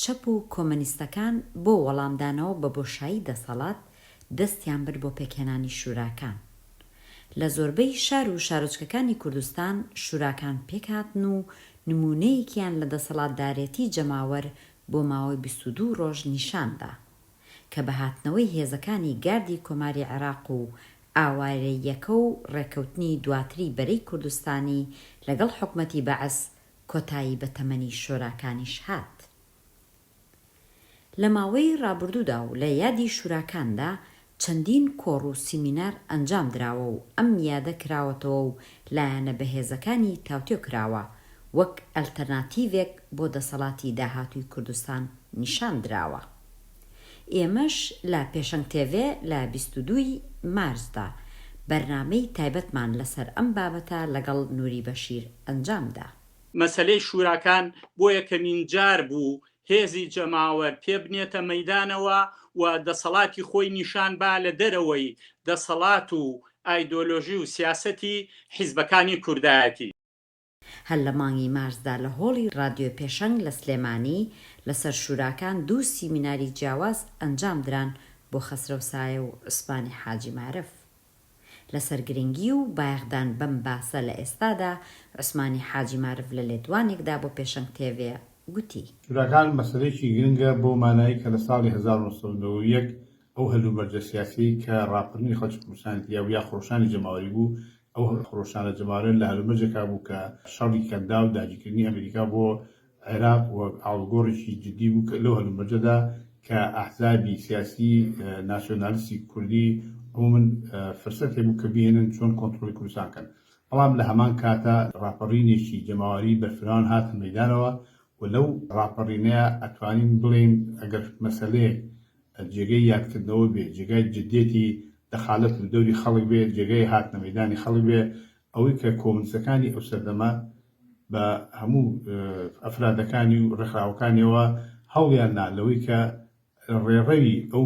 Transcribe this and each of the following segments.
چەپ و کۆمەنیستەکان بۆ وەڵامدانەوە بە بۆشایی دەسەڵات دەستیان برد بۆ پێکهێنانی شوراکان. لە زۆربەی شار و شارۆچکەکانی کوردستان شوراکان پێکهاتن و نموونەیەکیان لە دەسەڵاتدارێتی جەماوەر بۆ ماوەی بیست و دوو ڕۆژ نیشان دا کە بە هاتنەوەی هێزەکانی گاردی کۆماری عێراق و ئاوارەییەکە و ڕێککەوتنی دواتری بەرەی کوردستانی لەگەڵ حکومەتی بەعس کۆتایی بە تەمەنی شۆراکانیش هات. لە ماوەی ڕابردوودا و لە یادی شوراکاندا چەندین کۆڕ و سیمینار ئەنجام دراوە و ئەم یادە کراوەتەوە و لایەنە بەهێزەکانی تاوتوێ کراوە، وەک ئەلتەرناتیڤێک بۆ دەسەڵاتی داهاتووی کوردستان نیشان دراوە. ئێمەش لە پێشەنگ تێڤێ لە بیست و دوو ی مارسدا بەرنامەی تایبەتمان لەسەر ئەم بابەتە لەگەڵ نوری بەشیر ئەنجامدا. مەسەلەی شوراکان بۆ یەکەمین جار بوو هێزی جەماوەر پێبنێتە مەیدانەوە و دەسەڵاتی خۆی نیشان با لە دەرەوەی دەسەڵات و ئایدۆلۆژی و سیاسەتی حیزبەکانی کوردایەتی. هەر لە مانگی مارسدا لە هۆڵی ڕادیۆی پێشەنگ لە سلێمانی لەسەر شوراکان دوو سیمیناری جیاواز ئەنجامدران بۆ خەسرەو سایە و عوسمانی حاجی مارف لەسەر گرنگی و بایەخدان بەم باسە لە ئێستادا عوسمانی حاجی مارف لە لێدوانێکدا بۆ پێشەنگ تێڤێ گوتی. شوراکان مەسەلەیەکی گرنگە بەو مانای کە لە ساڵی هەزار و نۆ سەد و نەوە و یەک ئەو هەلومەرجە سیاسیەی کە ڕاپەرینی خەڵکی کوردستانی تیا بوو یا خرۆشانی جەماوەری بوو ئەو خرۆشانە جەماوەرە لە هەلومەرجێکا بوو کە شەڕی کەنداو داگیرکردنی ئەمریکا بۆ عێراق وەک ئاڵوگۆڕێکی جددی بوو کە لەو هەلومەرجەدا کە ئەحزابی سیاسی ناسیۆنالیستی کوردی عمومەن فرسەت هەبوو کە بهێنن چۆن کۆنتڕۆڵی کوردستان کەن بەڵام لە هەمان کاتا ڕاپەڕینێکی جەماوەری بەرفراوان هاتە مەیدانەوە و لەو ڕاپەڕینەیە ئەتوانین بڵێین ئەگەر مەسەلەیەک بەر جێگەی یادکردنەوە بێ، جێگای جدیەتی دەخالەت و دەوری خەڵک بێ، جێگای هاتنە مەیدانی خەڵک بێ، ئەوەی کە کۆمونستەکانی ئەو سەردەمە بە هەموو ئەفرادەکانی و ڕێکخراوەکانیەوە هەوڵیان نا لەوەی کە ڕێڕەوی ئەو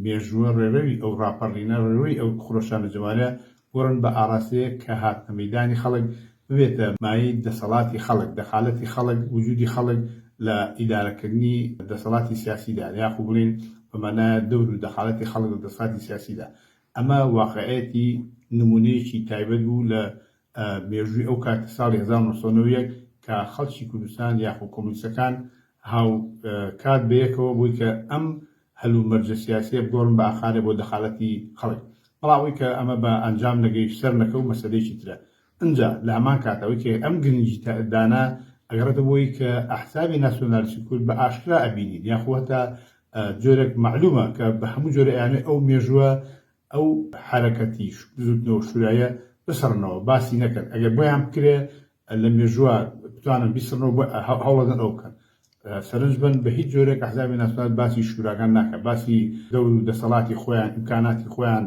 مێژووە، ڕێڕەوی ئەو ڕاپەڕینە، ڕێڕەوی ئەو خرۆشانە جەمالیە بڕن بە ئاراستەیەک کە هاتنە مەیدانی خەڵک ببێتە مایەی دەسەڵاتی خەڵک، دەخالەتی خەڵک، وجودی خەڵک لە ئیدارەکردنی دەسەڵاتی سیاسیدا، یاخو بڵێین بە مانایە دەور و دەخالەتی خەڵک لە دەسەڵاتی سیاسیدا. ئەمە واقعیەتی نمونەیەکی تایبەت بوو لە مێژووی ئەو کات کە ساڵی هەزار و نۆ سەد و نەوەد و یەک کە خەڵکی کوردستان یاخو کۆمۆنیستەکان هاوکات بەیەکەوە بووی کە ئەم هەل و مەرجە سیاسیە بگۆڕن بە ئاخارێ بۆ دەخالەتی خەڵک بەڵام ئەوەی کە ئەمە بە ئەنجام نەگەیشت سەر نەکە و مەسەلەیەکی ترە ئنجا لە هەمان کات ئەوەی کە ئەم گرنگی تە دانە ئەگەڕێتە بۆی کە ئەحزابی ناسیۆنالیسی کورد بە ئاشکرا ئەبینین یاخو هەتا جۆرێک مەعلومە کە بە هەموو جۆرە ئەیانوێ ئەو مێژوە ئەو حەرەکەتی بزوتنەوە شورایە بسڕنەوە باسی نەکەن ئەگەر بۆیان بکرێ لە مێژووە بتوانن بیسڕنەوە بۆ هەوڵەدەن ئەو بکەن سەرنج بن بە هیچ جۆرێک ئەحزابی ناسنات باسی شوراکان ناکە باسی دەور و دەسەڵاتی خۆیان ئیمکاناتی خۆیان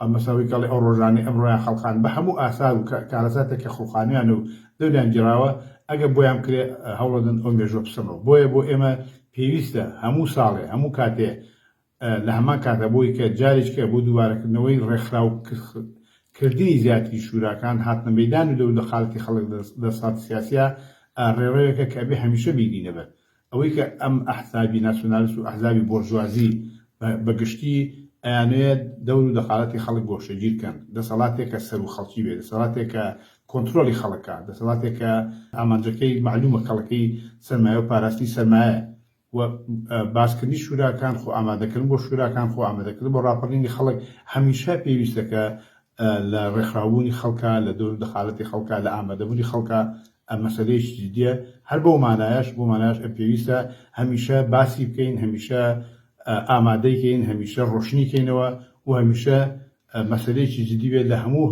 ئەمەساوی کەڵی ئەو ڕۆژانەی ئەمڕۆیان خەڵقان بە هەموو ئاسار و کارەساتێک کە خڵقانیان و دەوریان گیراوە ئەگە بۆیان کرێ هەوڵەدن ئەو مێژوە بسڕنەوە بۆیە بۆ ئێمە پێویستە هەموو ساڵێ هەموو کاتێ لە هەمان کات ئەبووی کە جارێکی ئەبوو دووبارەکردنەوەی ڕێکخراو و کردنی زیاتری شوراکان هاتنە مەیدان و لەو لە قالتی خەڵک دەسات سیاسیە ڕێڕەوێکە کە ئەبێ هەمیشە بینینە بەر ئەوەی کە ئەم ئەحزابی ناسیۆنالست و ئەحزابی بۆرژوازی بە گشتی ئەیانەوێت دەور و دەقالەتی خەڵک گۆشەگیر کەن دەسەڵاتێک کە سەر و خەڵکی بێ دەسەڵاتێک کە کۆنترۆلی خەڵکە دەسەڵاتێک کە ئامانجەکەی معلومە کەڵەکەی سەرمایە و پاراستنی سەرمایە و باسکردنی شوراکان خۆ ئامادەکردن بۆ شوراکان خۆ ئامادەکردن بۆ ڕاپەڕینی خەڵک هەمیشە پێویستە کە لە ڕێکخراوبوونی خەڵکە لە دەور دەخالەتی خەڵکە لە ئامادەبوونی خەڵکە مەسەلەیەکی جدیە هەر بۆ مانایش بۆ مانایش پێویستە هەمیشە باسی بکەین هەمیشە ئامادەیکەین هەمیشە ڕۆشنیکەینەوە و هەمیشە مەسەلەیەکی جدی بێت لە هەموو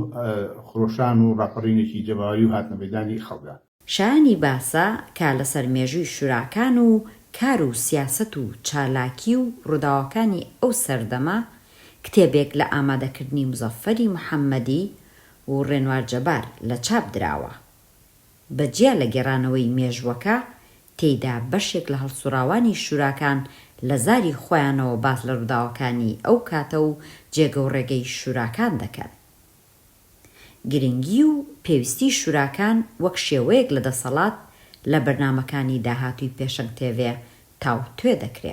خرۆشان و ڕاپەڕینێکی جەماوەری و هاتنە مەدانی خەڵکە شایانی باسە کە لەسەر مێژووی شوراکان و کار و سیاسەت و چالاکی و ڕووداوەکانی ئەو سەردەمە کتێبێک لە ئامادەکردنی موزەفەری محەممەدی و ڕێنوار جەبار لە چاپ دراوە. بە جیا لە گێڕانەوەی مێژووەکە، تێیدا بەشێک لە هەڵسوڕاوانی شوراکان لە زاری خۆیانەوە باس لە ڕووداوەکانی ئەو کاتە و جێگە و ڕێگەی شوراکان دەکەن. گرنگی و پێویستی شوراکان وەک شێوەیەک لە دەسەڵات لە بەرنامەکانی داهاتووی پێشەنگ تێڤێ تاوتوێ دەکرێ.